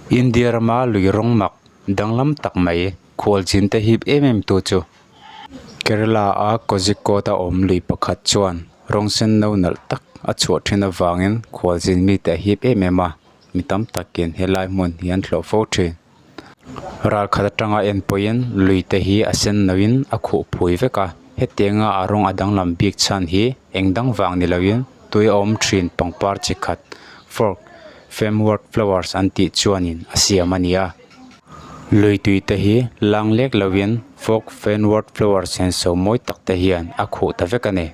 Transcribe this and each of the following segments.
India rama lui rawng mak danglam tak mai khual chin te hip em em tu chu Kerala a Kozhikode a awm lui pakhat chuan rawng senno nalh tak a chhuah thin avangin khual chin mite a hip em em a mi tam takin helai hmun hi an hlawh fo thin. Ral khat atanga en pawhin lui te hi a sen no in a khuh phui vek a, heti anga a rawng a danglam bik chhan hi eng dang vang ni lo in tui a awm thin pangpar chi khat fork fem word flowers an tih chuan in a siam a ni a. Lui tui te hi lang lek lo in fork fem word flowers chen sawm mawi tak te hian a khuh ta vek a ni.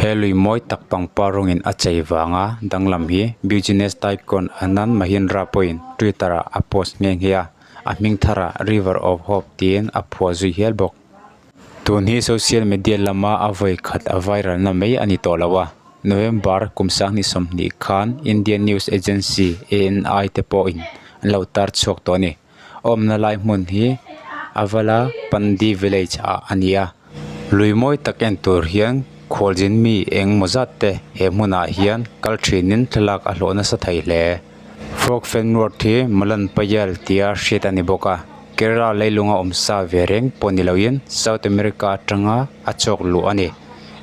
He lui mawi tak pangpar rawngin a chei vanga danglam hi Business Tycoon Anand Mahindra pawhin Twitter-ah a post nghe nghe a, a hming tharah River of Hope tiin a phuah zui hial bawk. Tun hi social media lama a vawi khat a viral-na mai a ni tawh lo a. November kum sanghnih sawmhnih khan Indian news agency ANI te pawhin an lo tar chhuak tawh a ni. Awmna lai hmun hi Avala Pandi Village ah a ni a, lui mawi tak en tur hian Khualzin mi eng maw zat te he hmun ah hian kal thin in thlalak a hlawh nasa thei hle. Frog Fen Road hi Malan Payal tia hriat a ni bawk a, Kerala leilung a awm sa ve reng pawh ni lo in South America atanga a chawk luh a ni.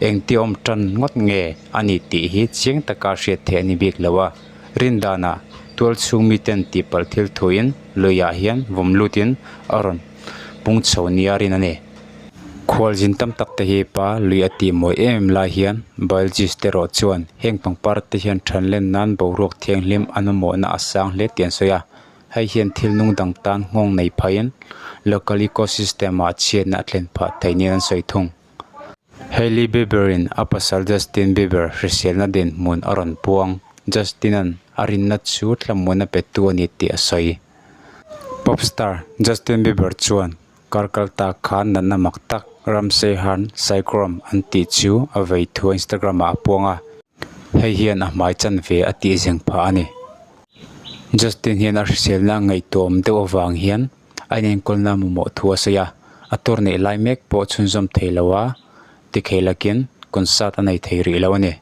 Engtiawm tan ngawt nge a nih tih hi chiang taka hriat theih a ni bik lo a. Rindanah tual chhung miten tihpalh thil thuin luiah hian vawm lutin a rawn pung chho nia rin a ni. Khual zin tam tak te hi pa lui a tih mawi em em lai hian biologist te rawh chuan heng pangpar te hian than len nan boruak thianghlim an awmawhna a sang hle tih an sawi a, hei hian thil nung dang tan nghawng nei phaiin local ecosystem-a chhiatna a tlen phah thei niin an sawi thung. Hailey Bieberin a pasal Justin Bieber hriselna den hmun a rawn puang. Justin-a'n a rinna chu thlamuan a pettu a ni tih a sawi. Pop star Justin Bieber chuan kar kal tak khan natna mak tak Ramsey han Psychrom an tih chu a vei thua Instagram-ah a puang a, hei hian a hmai chan ve a tih zeng phah a ni. Justin hian a hriselna a ngaihtuam deuh avang hian a inenkawnna mamawh thu a sawi a, a tur neih lai mek pawh chhunzawm thei lo a, tikhei lakin concert a nei thei rih lo a ni.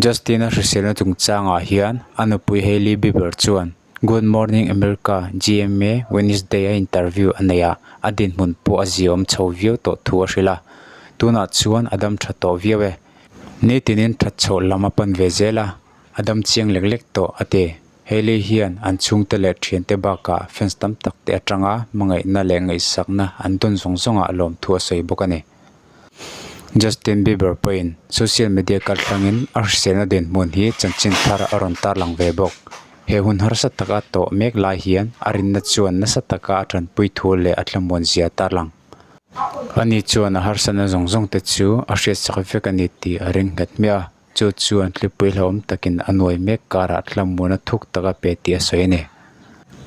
Justin-a hriselna chungchangah hian a nupui Hailey Bieber chuan Good Morning America, GMA, Wednesday-a interview a nei a, a dinhmun pawh a ziawm chho viau tawh thu a hrilh a, tunah chuan a dam tha tawh viau e. Nitinin that chhoh lam a pan ve zel a, a dam chiang lek lek tawh a ti. Hailey hian an chhungte leh thiante bakah fans tam tak te atanga hmangaihna leh ngaihsakna an dawn zawng zawngah lawmthu a sawi bawk a ni. Justin Bieber pawhin social media kaltlangin a hriselna den hmun hi chanchin thar a rawn tarlang ve bawk. He hun harsa taka tawh mek lai hian a rinna chuan nasa taka a tanpui thu leh a thlamuan zia a tarlang. Ani chuan a harsatna zawng zawngte chu a hriatsak vek a ni tih a ringhet hmiah a. Chu chuan tlipui hlauhawm takin a nuai mek karah Tlammuana thuk taka pe tih a sawi a ni.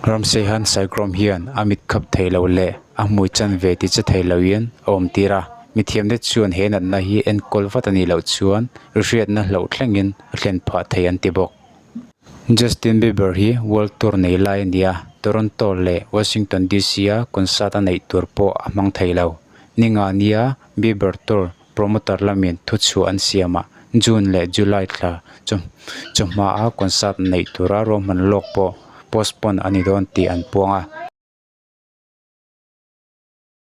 Ramseyhan Saikrawm hian a mit khap thei lo leh a hmui chan ve ti che thei loin a awm tir a, mithiamte chuan he natna hi enkawl vat a nih loh chuan rihriatna hloh thlengin a thlen phah thei an ti bawk. Justin Bieber hi world tour nei lai a ni a, Toronto leh Washington DC-a concert a neih tur pawh a hmang thei lo. Ni ngah nia Bieber tour Promoter lamin thu chhuah an siam a, June leh July thla chu chu hmaa concert neih tura ruahman lawk pawh postpone a ni dawn tih an puang a.